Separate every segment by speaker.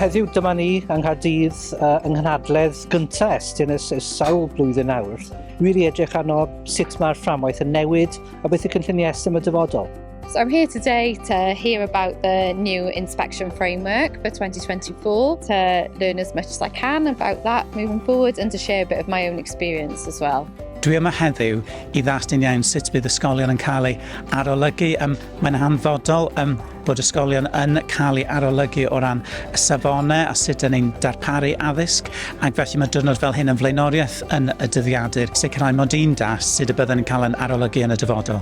Speaker 1: heddiw dyma ni yng Nghaerdydd uh, yng nghynhadledd gyntaf Estyn ys, ys sawl blwyddyn nawr. Wir i edrych arno sut mae'r fframwaith yn newid a beth y cynlluniau Estyn y dyfodol. So I'm here today
Speaker 2: to hear about the new inspection framework for 2024, to learn as much as I can about that moving forward and to share a bit of my own experience as well. Dwi yma heddiw
Speaker 3: i ddastyn iawn sut bydd ysgolion yn cael ei arolygu. Um, mae'n hanfodol um, bod ysgolion yn cael ei arolygu o ran y safonau a sut yn ein darparu addysg ac felly mae dyrnod fel hyn yn flaenoriaeth yn y dyddiadur sicrhau mod i'n das sut y byddwn yn cael yn arolygu yn y dyfodol.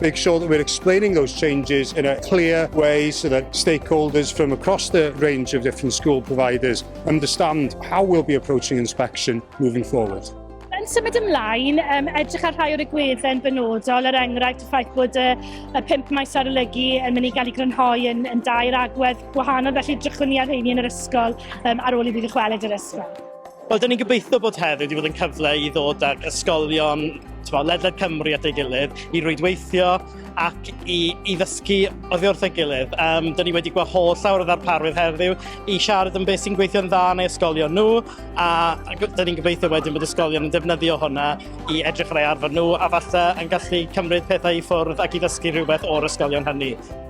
Speaker 4: make sure that we're explaining those changes in a clear way so that stakeholders from across the range of different school providers understand how we'll be approaching inspection moving forward. Yn symud
Speaker 5: ymlaen, um, edrych ar rhai o'r egwydden benodol, er enghraifft y ffaith bod y, y pimp maes arolygu yn mynd i gael ei grynhoi yn, yn dair agwedd gwahanol, felly drychwn ni ar rheini yn yr ysgol um, ar ôl i fi ddychwelyd yr ysgol. Wel, dyn ni'n gobeithio
Speaker 6: bod heddiw wedi bod yn cyfle i ddod ag ysgolion twa, ledled Cymru at ei gilydd, i rwydweithio ac i, i ddysgu oddi wrth ei gilydd. Um, dyn ni wedi gweld holl llawer o ddarparwydd heddiw i siarad am beth sy'n gweithio'n dda yn ei ysgolion nhw, a dyn ni'n gobeithio wedyn bod ysgolion yn defnyddio hwnna i edrych ar ei arfer nhw, a falle yn gallu cymryd pethau i ffwrdd ac i ddysgu rhywbeth o'r ysgolion hynny.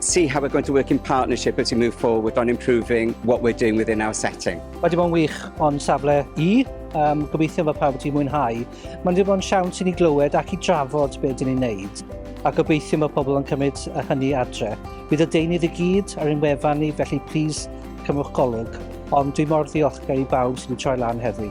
Speaker 7: see how we're going to work in partnership as we move forward on improving what we're doing within our setting. Mae wedi bod yn wych
Speaker 1: o'n safle i, um, gobeithio fod pawb wedi mwynhau. Mae'n wedi bod yn siawns i ni glywed ac i drafod beth dyn ni'n neud, a gobeithio mae pobl yn cymryd y hynny adre. Bydd y deunydd i gyd ar ein wefan ni, felly plis cymwch golwg, ond dwi mor ddiolchgar i bawb sydd wedi troi lan heddi.